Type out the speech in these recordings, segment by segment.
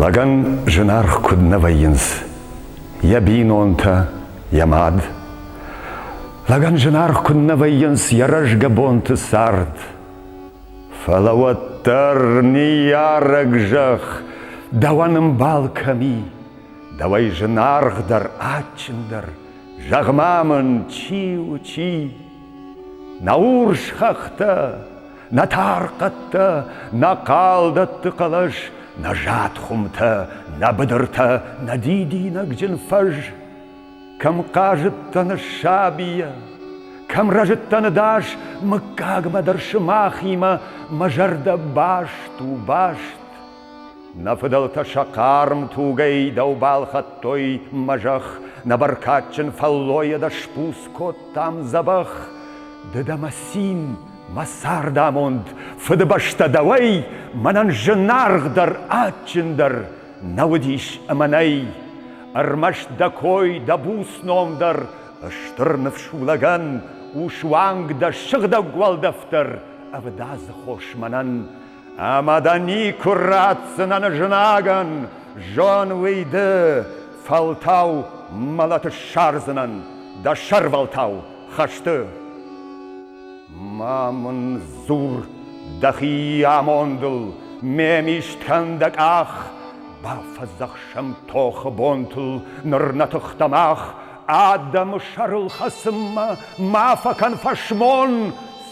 Лӕгӕн зынаргъ куыд нӕ вӕййынц йӕ бинонтӕ, йӕ мад. Лӕгӕн зынаргъ куыд нӕ вӕййынц йӕ рӕзгӕ бонты цард. Фӕлӕ уӕддӕр ныййарӕг зӕхх дӕуӕн ӕмбал кӕм и, дӕуӕй зынаргъдӕр, адджындӕр, Зӕгъ-ма мын, чи у, чи? Нӕ урс хӕхтӕ, нӕ тархъӕдтӕ, нӕ хъалдӕтты хъӕлӕс, нӕ зад хуымтӕ, нӕ быдыртӕ, нӕ дидинӕгджын фӕз. Кӕм хъазыдтӕн сабийӕ, кӕм рӕзыдтӕн дӕс, мыггагмӕ дӕр сымахимӕ мӕ зӕрдӕ баст у баст. Нӕ фыдӕлтӕ сӕ хъарм тугӕй дӕу балхӕдтой мӕ зӕхх, Нӕ бӕркадджын фӕллойӕ дӕ сбуц кодтам дзӕбӕх. Ды дӕ мӕ цин, мӕ цардамонд, Фыдыбӕстӕ дӕуӕй, мӕнӕн зынаргъдӕр, адджындӕр Нӕ уыдис ӕмӕ нӕй. Ӕрмӕст дӕ кой, дӕ буц ном дӕр, Стыр ныфс у лӕгӕн, у суанг дӕ сыгъдӕг уӕлдӕф дӕр, Ӕвдадзы хос мӕнӕн, Ӕма дӕ никку ратдзӕнӕн знагӕн, зон уый ды, фӕлтау мӕлӕты ссардзынӕн дӕ сӕрвӕлтау хӕсты. Ма мын дзур дӕхи амондыл, ме мист кӕн дӕ къах, бафӕдзӕхсӕм тохы бонтыл ныр нӕ тыхтӕ мах, адӕмы сӕрыл хӕцынмӕ ма фӕкӕн фӕсмон,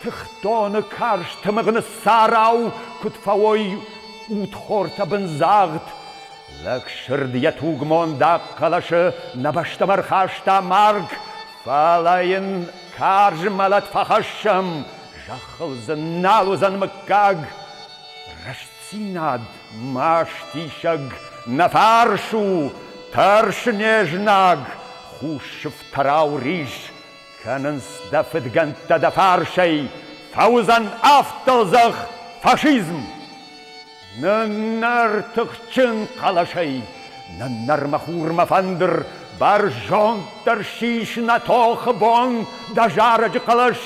Тыхтоны карз тымыгъ ныссарау куыд фӕуой удхортӕ бындзагъд, Лӕгсырд йӕ тугмондаг хъӕлӕсы нӕ бӕстӕм ӕрхаста марг, Фӕлӕ йын карз мӕлӕт фӕхӕссӕм, зӕххыл дзы нал уыдзӕн мыггаг. Рӕстдзинад мастисӕг, нӕ фарс у, тӕрс не знаг, хус сыфтӕрау рис, Кӕнынц дӕ фыдгӕндтӕ дӕ фарсӕй, Фӕуыдзӕн афтӕлдзӕх фашизм! Ныннӕр тыхджын хъӕлӕсӕй, ныннӕр мӕ хурмӕ фӕндыр, Бӕрзонддӕр сис нӕ тохы бон дӕ зарӕджы хъӕлӕс,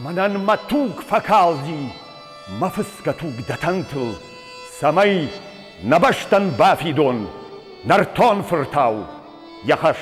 Мӕнӕн мӕ туг фӕкалди, мӕ фыцгӕ туг дӕ тӕнтыл, Цӕмӕй нӕ бӕстӕн бафидон нӕртон фыртау йӕ хӕс.